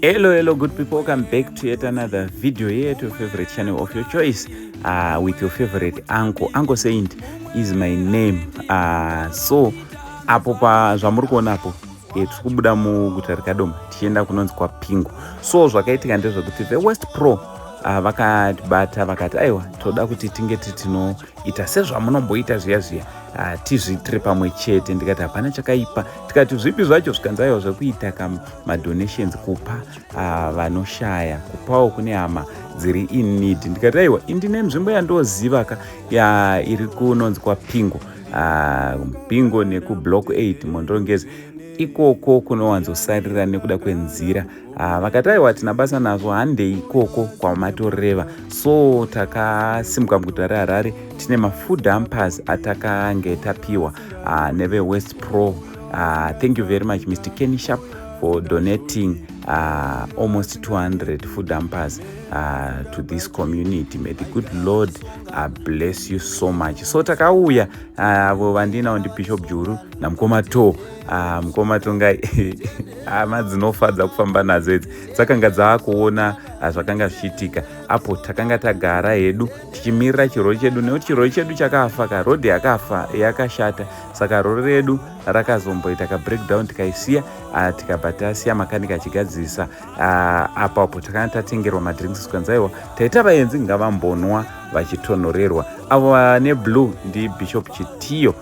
hello hello good people welcome back to yet another video here at your favorite channel of your choice uh, with your favorite uncle uncle saint is my name uh, so apo pa zvamuri kuona apo eh, tiri kubuda muguta rekadoma tichienda kunonzi kwapingo so zvakaitika ndezvekuti the west pro uh, vakatibata vakati aiwa toda kuti tinge titinoita sezvamunomboita zviya zviya uh, tizviitire pamwe chete ndikati hapana chakaipa tikati zvipi zvacho zvikanzi aiwa zvekuita ka madonations kupa uh, vanoshaya kupawo kune hama dziri in need ndikati aiwa indine nzvimbo yandoziva ka ya iri kunonzi kwapingo uh, pingo nekublock 8 mondongezi ikoko kunowanzosarira nekuda kwenzira Ah, vakati aiwa hatina basa nazvo handei ikoko kwamatoreva so takasimuka muguta reharare tine mafood ampers atakange tapiwa ah, nevewest pro ah, thank you very much mr kenny sharp for donating uh, almost 200 food ampers uh, to this community may the good lord uh, bless you so much so takauya avo uh, vandinawo ndibishop juru namukoma to Ah, mukoma tongai hama dzinofadza kufamba nadzo idzi dzakanga dzaakuona ah, zvakanga zvichiitika apo takanga tagara hedu tichimirira chirori chedu nekuti chirori chedu chakafa ka rodhi yakafa yakashata saka rori redu rakazomboita ka breakdown tikaisiya ah, tikabva tasiya makanika achigadzirisa apo apo takanga tatengerwa madrinks zvikanzaiwa taita vaenzi ngavambonwa vachitonhorerwa avo vane blue ndibishop chitiyo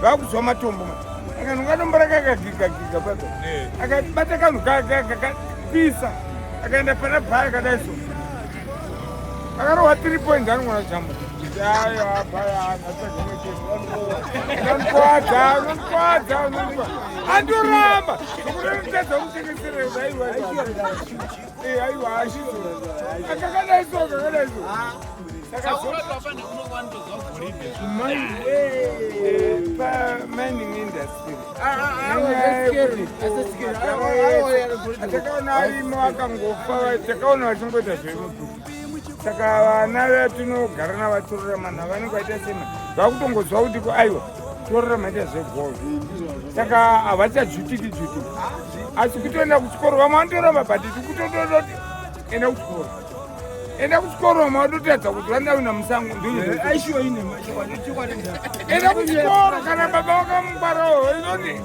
vakuzwa matombo akanhu katombo rakakagigagika papo akabata kanhu kakapisa akaenda pana bhaya kadai so akarohwa three point anogona jamba andoramba zvokuti nditadza kutengeserezaiwa Eh, aiwa hazvizo akakadaiso akakadaiso pamining industry atakaona arimo akangofa takaona vachingoita zvemuduku saka vana vatinogara navatorora manhu avanenge vaita sema vakutongoziva kuti ko aiwa torora maita zvebhol saka havachadzvutiki dzvuti asi kutoenda kuchikoro vamwe vanotoramba but tikutotoda kuti enda kuchikoro enda kuchikoro vamwe vatotadza kuti vandavina musango ndoenda kuchikoro kana baba vakamubarawo izoti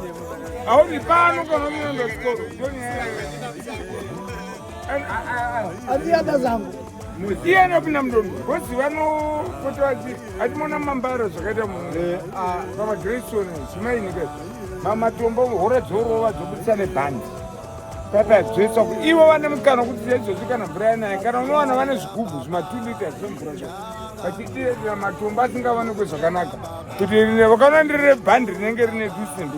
hauni pano kana unoenda kuchikoro ndonyaya aziada zangu iyena pina mdondo kozi vanopota vati atimona mambara zvakaita pamagrayson eh, ah, zimainika mamatombo hora dzorova dzobudisa nebhandi tatadzvesa ku ivo vane mukana kuti zaizvozvi kana mvura yanaye kana unowana vane zvigubhu zvimatulita zvemvura zvo vachitiedera matombo asingavanikwe zvakanaka kuti rine vakanoenderere bhandi rinenge rine dusimbi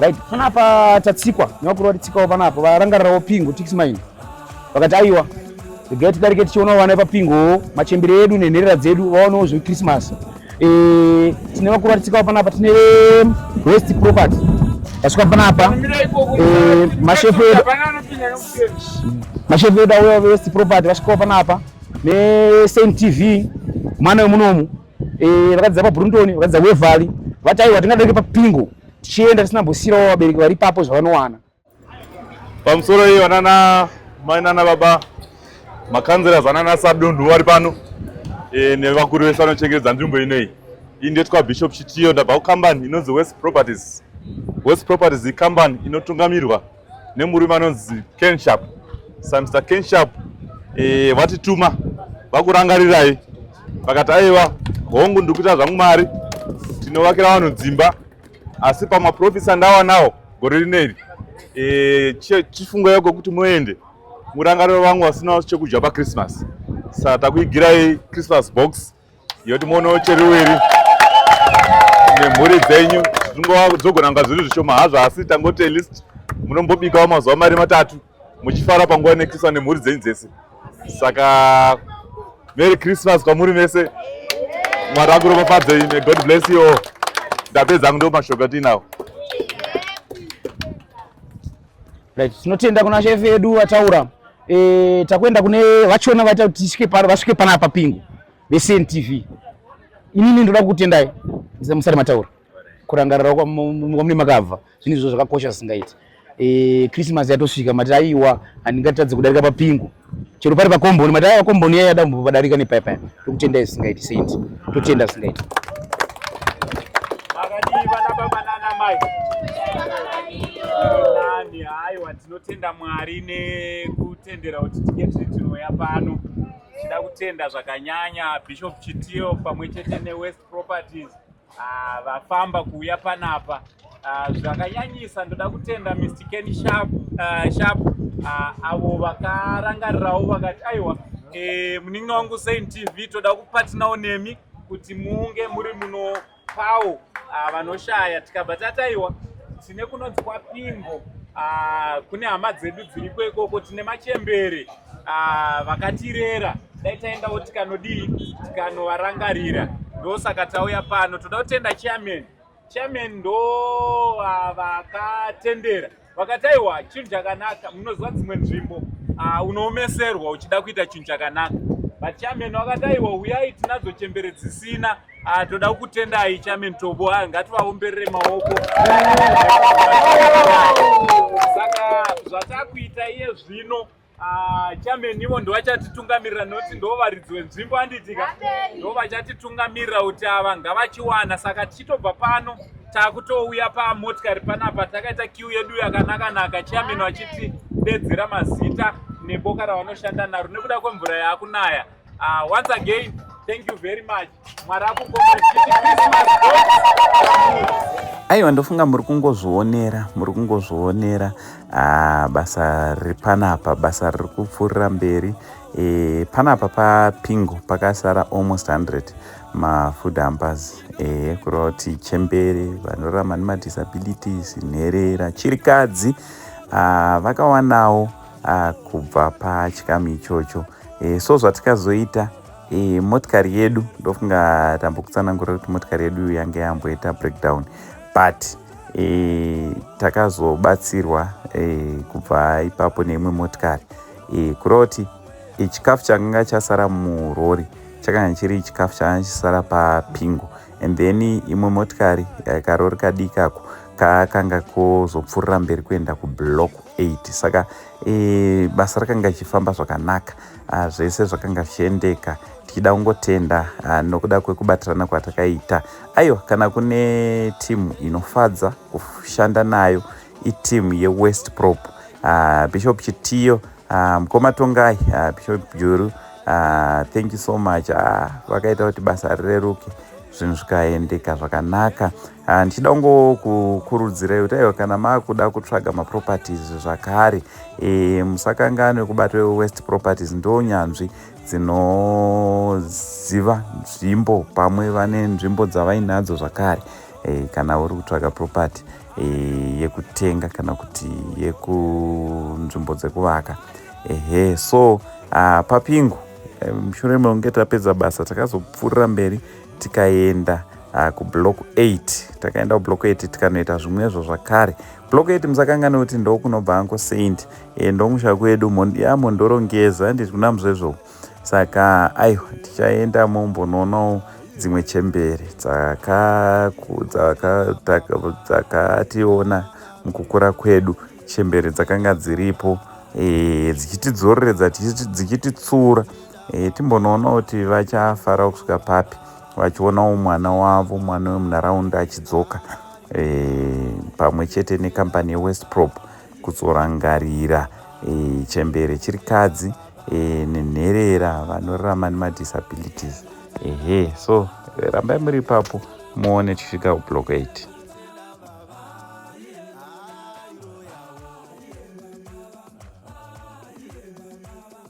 right panapa tatsikwa nevakuru vatitsikawo panapa varangarirawo pingo tix mine vakati aiwa regai tidarike tichionawo vana vepapingo machembere edu nenherera dzedu vaonewo zvekrismas eh, tine vakuru vatitsikawo panapa tine west property vasvika panapa eh, mashefu edu mashefu edu auya west property vasvikawo panapa nesaint tv mwana wemunomu eh, vakadzidza pabrunton vakadzidza wevhali vataiwa tingadake papingo tichienda tisina mbosiyirawo vabereki vari papo zvavanowana pamusoro iyo vanana mai nana baba makanzera zanana sadunhu vari pano e, nevakuru vese vanochengetedza nzvimbo inei iyi ndetwa bishop chitiyo ndabva kukambani inonzi west properties west properties ikambani inotungamirwa nemurume anonzi kenshap sa mr kenshap e, vatituma vakurangarirai vakati aiwa hongu ndiri kuita zvangu mari tinovakira vanhu dzimba asi pamaprofits andawanawo gore rineri e, chifungo yako kuti muende murangariro vangu vasinawo chekudya pachristmas sa takuigirai christmas box yoti mono cheruviri nemhuri dzenyu zvingozogona kunga zviri zvishoma hazvo asi tangoti at least munombobikawo mazuva mari matatu muchifara panguva inekiswa nemhuri dzenyu dzese saka merry christmas kwamuri mese mwari akuropafadzei may god bless you all ndapedza angu ndo mashoko atiinawo Right, tinotenda kuna chef edu vataura. Eh, takwenda kune vachona vaita kuti tisvike pano, vasvike pana apa pingu. Vesen TV. Inini ndoda kutendai. Ndise musari mataura. Kurangarira kwa mune makabva. Zvinhu izvo zvakakosha singaiti. Eh, Christmas yatosvika mati aiwa handingatadze kudarika papingu. chero pari pakomboni madai pakomboni yaiya dambo padarika nepaya paya tokutenda isingaiti saint totenda isingaiti nani haiwa tinotenda mwari nekutendera kuti tinge tiri tinoya pano tida kutenda zvakanyanya bishop chitiyo pamwe chete newest properties Ah, vafamba kuuya panapa ah, zvakanyanyisa ndoda kutenda mr ken sharp ah, sharp avo vakarangarirawo vakati aiwa eh, munin'ina wangu sain tv toda kupatinawo nemi kuti munge muri munopawo vanoshaya tikabva tataiwa tine kunonzi kwapingo kune hama dzedu dziriko ikoko tine machembere Ah, vakatirera dai taendawo tikanodii tikanovarangarira ndosaka tauya pano toda kutenda chairman chairman ndo ah, vakatendera vakati aiwa chinhu chakanaka munoziva dzimwe nzvimbo ah, unoomeserwa uchida kuita chinhu chakanaka but chairman vakati aiwa huyai tinadzo chembere dzisina Ah, toda kukutendai chairman Tobo, ah, ngativaomberere maoko. Saka zvatakuita iye zvino ah, chairman ivo ndovachatitungamirira noti ndo varidzi wenzvimbo anditika ndo vachatitungamirira kuti ava ngavachiwana saka tichitobva pano takutouya pamotikari panapa takaita kiu yedu yakanakanaka chairman vachitidedzera mazita neboka ravanoshanda naro nekuda kwemvura yaakunaya Uh, once again, thank you very much. aiwa ndofunga muri kungozvionera muri kungozvionera ah, basa riri panapa basa riri kupfuurira mberi e, panapa papingo pakasara almost 100 mafood hampers e, eh, kureva kuti chembere vanorarama nemadisabilities nherera chirikadzi ah, vakawanawo uh, kubva pachikamu ichocho e, so zvatikazoita e, motikari yedu ndofunga tambokutsanangurira kuti motikari yedu yange yamboita breakdown but e, takazobatsirwa e, kubva ipapo neimwe motikari e, kureva kuti e, chikafu chakanga chasara murori chakanga chiri chikafu chakanga chisara papingo and then imwe motikari e, karori kadikako kakanga kozopfuurira mberi kuenda kublock 8 saka e, basa rakanga richifamba zvakanaka ah, zvese zvakanga zvichiendeka tichida kungotenda ah, nokuda kwekubatirana kwatakaita aiwa kana kune timu inofadza kushanda nayo itimu yewest prop ah, bishop chitiyo ah, mukoma tongai ah, bishop juru ah, thank you so much ah, vakaita kuti basa rireruke zvinhu zvikaendeka zvakanaka ah, Ah, ndichida kungokurudzirai kuti aiwa kana maakuda kutsvaga maproperties zvakare e, musakanganwe kubata wewest properties ndo nyanzvi dzinoziva nzvimbo pamwe vane nzvimbo dzavainadzo zvakare e, kana uri kutsvaga property e, yekutenga kana kuti yekunzvimbo dzekuvaka ehe so uh, papingu mushure mekunge tapedza basa takazopfuurira mberi tikaenda uh, kublock 8 takaenda kublock 8 tikanoita zvimwezvo zvakare block 8 musakanganwe kuti ndokunobva anko saint e, eh, ndomusha kwedu ya mondoro ngeza handiti kuna muzvezvo saka aiwa tichaenda mombonoonawo dzimwe chembere dzakationa mukukura kwedu chembere dzakanga dziripo e, dzichitidzoreredza dzichititsura Eh, timbonoona kuti vachafara kusvika papi vachionawo mwana wavo mwana wemunharaunda achidzoka eh, pamwe chete nekambani yewest prop kutsorangarira eh, chembere chiri kadzi eh, nenherera vanorarama nemadisabilities ehe eh, so eh, rambai muri ipapo muone tichisvika kublock 8 Thank you.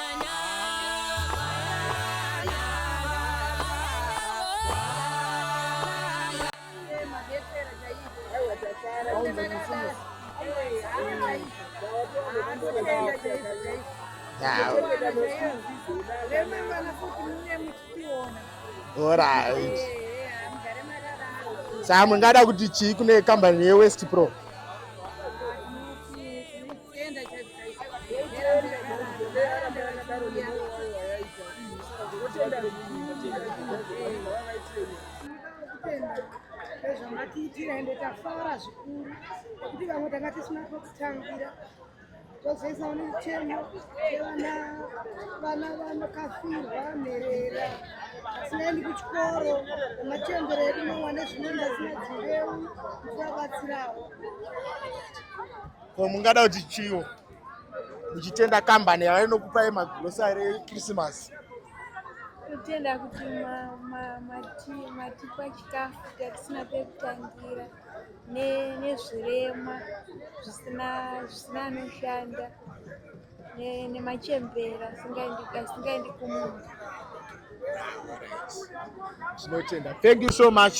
Alright. Saka mungada kuti chii kune kambani yeWest Pro? nezvamatiitira ende tafara zvikuru nekuti vamwe tanga tisina kwekutambira tozoisa unechemo evana vana vanokafirwa nherera asinaendi kuchikoro nemachembero edu mawane zvinoenda zina dzireu tinobatsirawo Ko mungada kuti chiwo muchitenda kambani yava inokupai magrosari ekrisimasi kutenda kuti matipa chikafu chatisina pekutangira nezvirema zvisina anoshanda nemachembera asingaendi kumunhu tinotenda thank you so much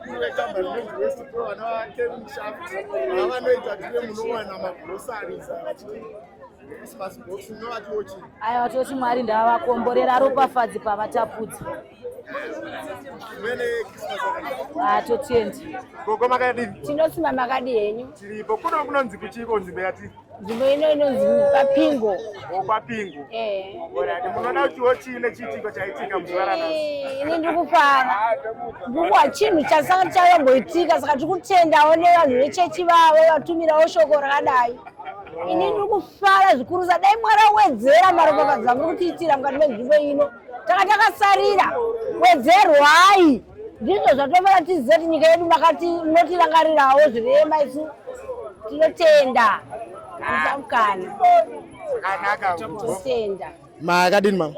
Gamba rinonzi West Pro vana vake mushaft avanoita tine munowana magurosari sachii aiwa toti mwari ndavakomborera ropafadzi pavatapudza atotiendi ah, gogo makadii tinosima makadii henyu tiripo kuno kunonzi kuchii konzi mbeya tiri nzvimbo ino inonzi papingo oh, papingo eh. munoda kutiwo chii nechiitiko chaitika muzuva ranhasi ini ndiri kufara ndikuwa chinhu chasanga chayamboitika saka tiri kutendawo nevanhu vechechi vavo vatumirawo shoko rakadai oh. ini ndiri kufara zvikurusa dai mwari awedzera maropafadzo amuri kutiitira mukati menzvimbo ino taka takasarira wedzerwai ndizvo zvatofana tiziva kuti nyika yedu makati munotirangarirawo zvirema isu tinotenda muchamukana totenda makadini mama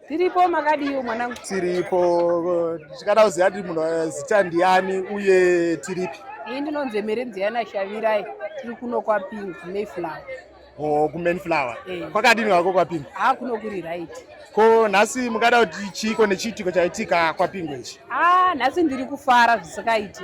tiripo makadiwo mwanangu tiripo tichikada kuziva kuti munhu eh, zita ndiani uye tiripi ini ndinonzi emerenziyana shavirai tiri kuno kwapingi mayflower or kumain flower hey. Eh. kwakadini wako kwapinga ha ah, kuno kuri right ko nhasi mungada kuti chiiko nechiitiko chaitika kwapinga ichi ha ah, nhasi ndiri kufara zvisikaiti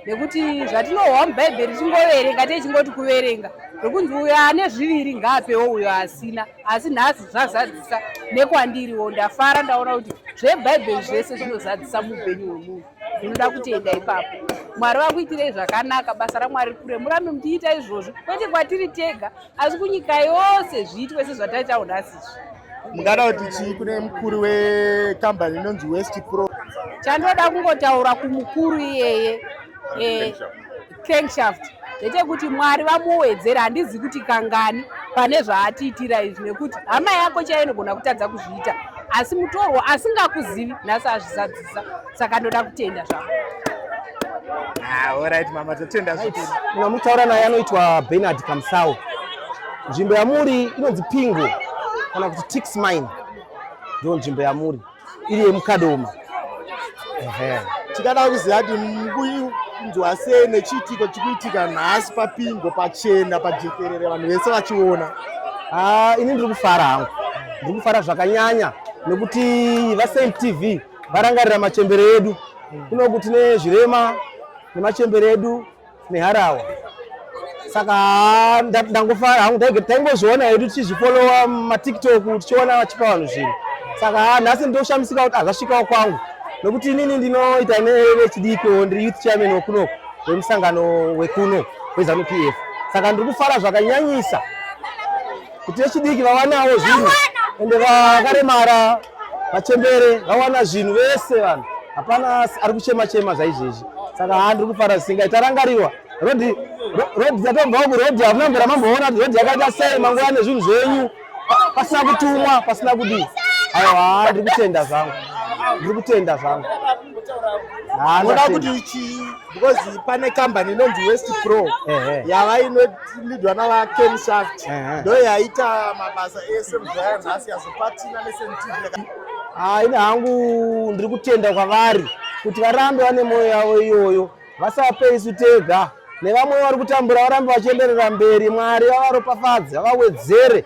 nekuti zvatinohwa mubhaibheri chingoverenga tiye chingoti kuverenga zvekunzi uyo ane zviviri ngaapewo uyo asina asi nhasi zvazadzisa nekwandiriwo ndafara ndaona kuti zvebhaibheri zvese zvinozadzisa muupenyu hwemunhu zvinoda kutenda ipapo mwari vakuitirei zvakanaka basa ramwari kure murambe muchiita izvozvo kwete kwatiri tega asi kunyika yose zviitwe sezvataitawo nhasi izvi mungada kuti chii kune mukuru wekambani inonzi west pro chandoda kungotaura kumukuru iyeye eh, crankshaft zvete kuti mwari vamuwedzera handizi kuti kangani pane zvaatiitira izvi nekuti hama yako chaiyo inogona kutadza kuzviita asi mutorwo asingakuzivi nhasi azvizadzisa saka ndoda kutenda zvako orit ah, mama totenda zvimuna mutaura naye anoitwa benard kamsau nzvimbo yamuri inonzi pingo kana kuti tix mine ndo nzvimbo yamuri iri yemukadoma tikada kuziva kuti mukunzwa sei nechiitiko chikuitika nhasi papingo pachena pajekerere vanhu vese vachiona ah, ini ndiri kufara hangu ndiri kufara zvakanyanya nekuti vasaint tv varangarira machembere edu kunoku tine zvirema nemachembere edu neharawa saka ndangofara hangu taingozviona hedu tichizvifolowa matiktok tichiona vachipa vanhu zvinhu saka nhasi ndoshamisika kuti azvasvikawo kwangu nokuti inini ndinoita nevechidiki ndiri youth chairman wekuno wemusangano wekuno wezanu p f saka ndiri kufara zvakanyanyisa kuti vechidiki vawanawo zvinhu ende vakaremara Machembere vawana zvinhu vese vanhu. Hapana ari kuchema chema zvaizvezvi. Saka haa ndiri kufara zvisinga itarangarirwa. Road road dzatobva ku road hamuna mbira mamboona kuti road yakaita sei manguva nezvinhu zvenyu pasina kutumwa pasina kudii. Ayo haa ndiri kutenda zvangu. Ndiri kutenda zvangu. Haa kuti because pane kambani inonzi west pro yava inolidwa navaken shaft ndo yaita mabasa ese muzvaya nhasi yazopatina nesentv ah, ini hangu ndiri kutenda kwavari kuti varambe vane mwoyo yavo iyoyo vasape isu tega nevamwe vari kutambura varambe vachienderera mberi mwari vavaropafadze vavawedzere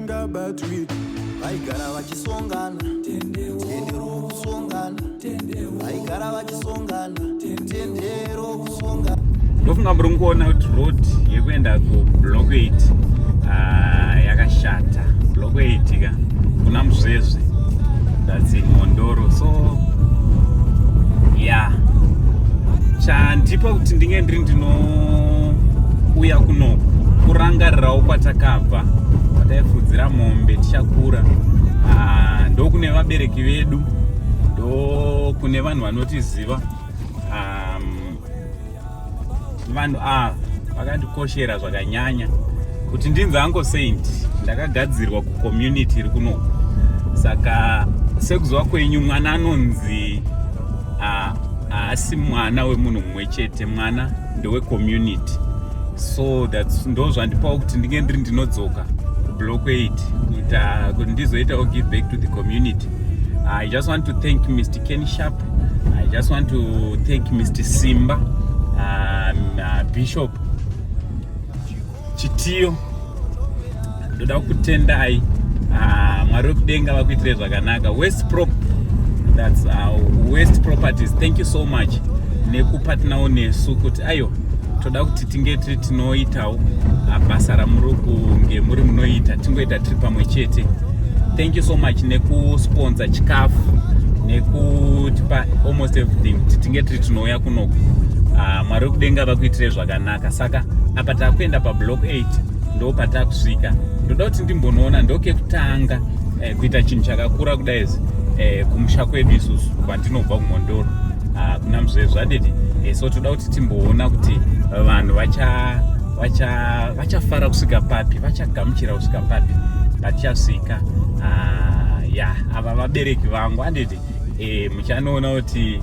ngabatwi vaigara vachisongana tendero kusongana vaigara vachisongana tendero kusongana unofunga muri kuona kuti road yekuenda kublock 8 ah, yakashata block 8 ka kuna muzvezve that's in mondoro so ya yeah. chandipa kuti ndinge ndiri ndinouya kuno kurangarirawo kwatakabva pataifudzira mombe tichakura ah, ndokune vabereki vedu ndokune vanhu vanotiziva vanhu ava vakandikoshera zvakanyanya kuti ndinzi ango saint ndakagadzirwa kucommunity iri kuno saka sekuziva kwenyu mwana anonzi haasi mwana wemunhu chete mwana ndewe community so thats ndo zvandipawo kuti ndinge ndiri ndinodzoka kublock 8 kuita kuti ndizoitawo give back to the community i just want to thank mr ken sharp i just want to thank mr simba um, uh, bishop Chitiyo ndoda kutendai ah, mwari wekudenga vakuitire zvakanaka west prop that's uh, west properties thank you so much nekupa tinawo nesu kuti ayo toda kuti tinge tiri tinoitawo ah, basa ramuri kunge muri munoita tingoita tiri pamwe chete thank you so much nekusponsa chikafu nekutipa almost everything kuti tinge tiri tinouya kunoku ah, mwari wekudenga vakuitire zvakanaka zvakanaka saka apa takuenda pablock 8 ndo patakusvika ndoda kuti ndimbonoona ndokekutanga eh, kuita chinhu chakakura kudaizi eh, kumusha kwedu isusu kwandinobva kumhondoro ah, kuna mzvee zvadidi eh, so toda kuti timboona kuti vanhu vacha vachafara kusvika papi vachagamuchira kusvika papi vachasvika ah, ya ava vabereki vangu anditi eh, muchanoona kuti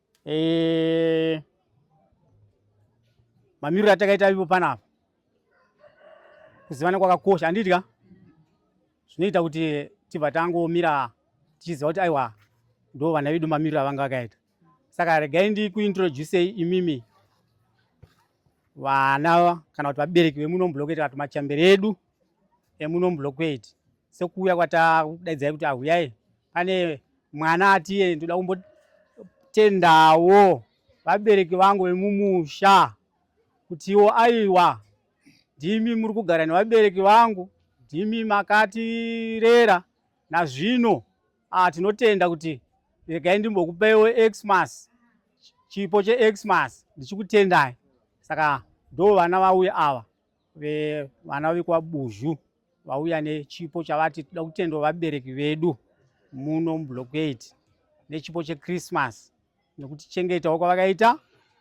Eh, mamiriro atakaita ivo panapa kuzivana kwakakosha anditya zvinoita kuti tibva tangomira tichiziva kuti aiwa ndo vana vedu mamiriro avanga vakaita saka regai ndikuintroducei imimi vana kana kuti vabereki vemuno mublockade kana kuti machambere edu emuno mublockade sekuuya kwatakudaidzai kuti ahuyai pane mwana atiye ndoda kumbotendawo vabereki vangu vemumusha kutiwo aiwa ndimi muri kugara nevabereki vangu ndimi makatirera nazvino Ah, tinotenda kuti regai ndimbokupeiwo xmas chipo chexmas ndichikutendai saka ndo vana vauya ava vana vekwabuzhu vauya nechipo chavati toda kutenda vabereki vedu muno mublocade nechipo chechristmas nekutichengetawo kwavakaita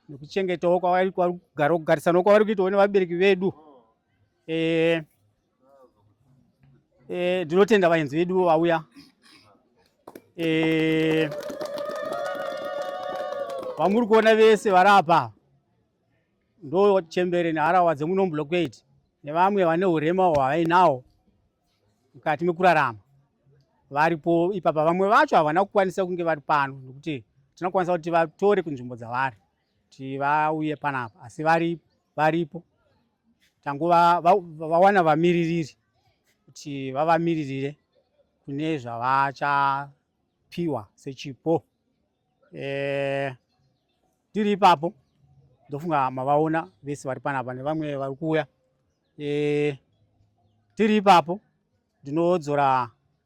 nekuchengetawo kwavakugarokugarisanawo kwavari kuitawo nevabereki vedu e, Eh, ndinotenda e, vaenzi veduwo vauya e, vamuri kuona vese vari apa ndo chembere neharawa dzemunombloquate nevamwe vane urema hwavainawo mukati mekurarama varipo ipapa vamwe vacho havana kukwanisa kunge vari pano nokuti tinokwanisa kuti vatore kunzvimbo dzavari kuti vauye panapa asi vari varipo tangova vawana vamiririri kuti vavamiririre kune zvavachapiwa sechipo eh, tiri ipapo ndofunga mavaona vese vari panapa nevamwe vari kuuya eh, tiri ipapo ndinodzora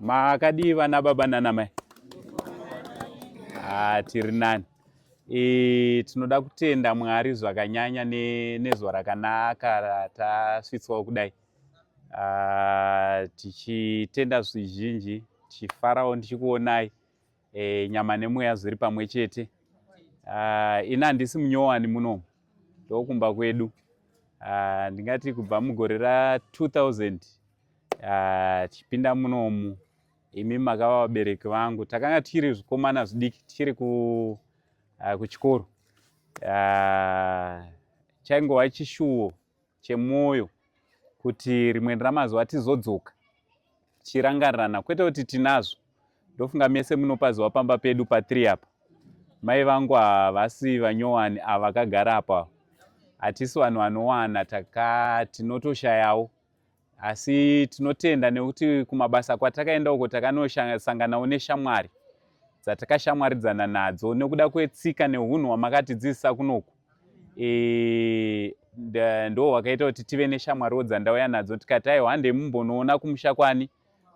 Makadii vana baba nana mai? Ah, tiri nani. E, tinoda kutenda Mwari zvakanyanya ne, nezuva rakanaka ratasvitswawo kudai. Ah, tichitenda zvizhinji, tichifarawo ndichikuonai. e, nyama nemweya zviri pamwe chete uh, ini handisi munyowani muno ndokumba kwedu uh, ndingati kubva mugore ra 2000 uh, tichipinda munomu imi makava vabereki vangu takanga tiri zvikomana zvidiki tichiri ku, uh, kuchikoro uh, chaingova chishuwo chemwoyo kuti rimwe ramazuva tizodzoka tichirangarirana kwete kuti tinazvo ndofunga mese munopaziva pamba pedu patiri apa mai vangu havasi vanyowani avakagara apa hatisi vanhu vanowana taka tinotoshayawo asi tinotenda nekuti kumabasa kwatakaenda uko takanosanganawo neshamwari dzatakashamwaridzana nadzo nekuda kwetsika neunhu hwamakatidzidzisa kunoku e, ndo hwakaita kuti tive neshamwariwo dzandauya nadzo tikati aiwa handei mumbonoona kumusha kwani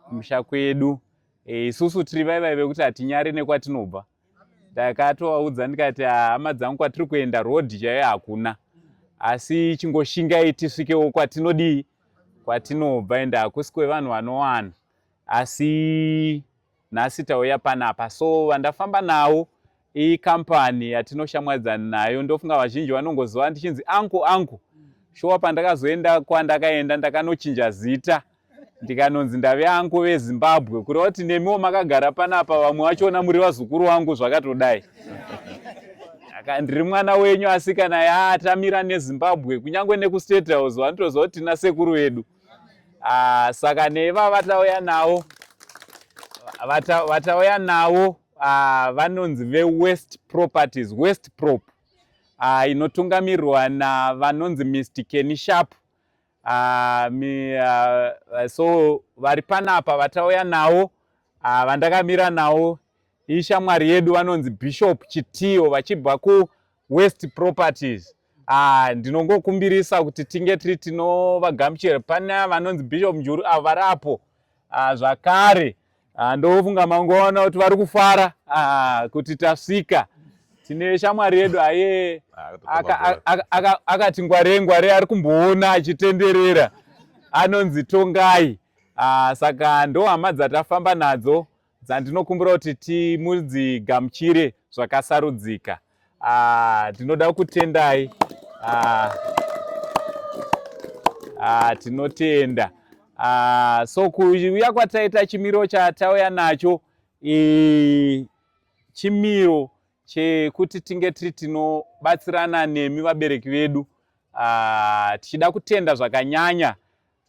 kumusha kwedu e, isusu tiri vaivai vekuti hatinyari nekwatinobva e, ndakatovaudza ndikati ah, hama dzangu kwatiri kuenda road chaiyo hakuna asi chingoshingai tisvikewo kwatinodii kwatinobva ende hakusi kwevanhu vanowana asi nhasi tauya panapa so vandafamba nawo ikambani yatinoshamwadzana nayo ndofunga vazhinji vanongoziva ndichinzi anku anku shuwa pandakazoenda kwandakaenda ndakanochinja zita ndikanonzi ndave anko vezimbabwe kureva kuti nemiwo makagara panapa vamwe vachiona muri vazukuru wangu zvakatodai aka ndiri mwana wenyu asi kana yaatamira nezimbabwe kunyange nekustate house vanotoziva kuti tina sekuru vedu ah, saka neva vatauya nawo vatauya nawo ah, vanonzi vewest properties west prop ah, inotungamirwa navanonzi mr kenishapu uh, mi, uh, so vari panapa vatauya nawo uh, vandakamira nawo ishamwari yedu vanonzi bishop chitiyo vachibva kuwest properties uh, ndinongokumbirisa kuti tinge tiri tinovagamuchira pane vanonzi bishop njuru avo vari apo ah, zvakare ah, ndofunga mangoona kuti vari kufara ah, kuti tasvika tine shamwari yedu aye akati ngware ngware ari kumboona achitenderera anonzi tongai saka ndohama dzatafamba nadzo dzandinokumbira kuti timudzigamuchire zvakasarudzika ah, ndinoda ah, kutendai ah, ah, tinotenda ah, so kuuya kwataita chimiro chatauya nacho eh, chimiro chekuti tinge tiri tinobatsirana nemi vabereki vedu ah, tichida kutenda zvakanyanya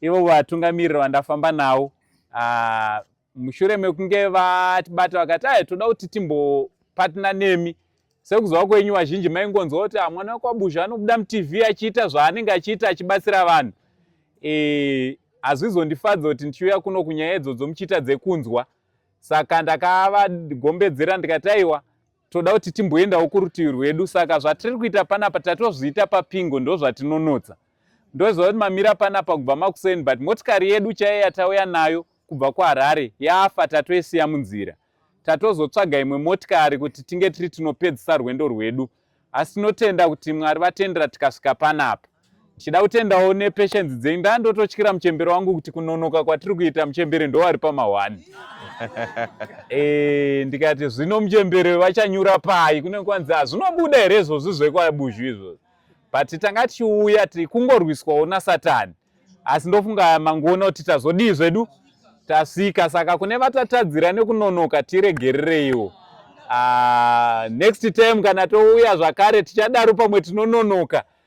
ivo vatungamiriri vandafamba navo ah, mushure mekunge vatibata vakati aye toda kuti timbopatna nemi sekuzova kwenyu vazhinji maingonzwa kuti ah, mwana wekwabuzha anobuda mutv achiita zvaanenge achiita achibatsira vanhu e, hazvizondifadza kuti ndichiuya kuno kunyaya idzodzo muchiita dzekunzwa saka ndakavagombedzera ndikati aiwa toda kuti timboendawo kurutivi rwedu saka zvatiri kuita panapa tatozviita papingo ndo zvatinonotsa ndoziva kuti mamira panapa kubva makuseni but motikari yedu chaiye yatauya nayo kubva kuharare yafa tatoisiya munzira tatozotsvaga imwe motikari kuti tinge tiri tinopedzisa rwendo rwedu asi tinotenda kuti mwari vatendera tikasvika panapa Tichida kutendawo nepatience dzenyu. Ndandototyira muchembere wangu kuti kunonoka kwatiri kuita muchembere ndowari pamahwani. Eh, ndikati zvino muchembere vachanyura pai kunenge kwanzi hazvinobuda here izvozvi zvekwabuzhu izvozvi but tanga tichiuya kungorwiswawo nasatani asi ndofunga mangoona kuti tazodii zvedu tasvika saka kune vatatadzira nekunonoka tiregerereiwo ah, next time kana touya zvakare tichadaro pamwe tinononoka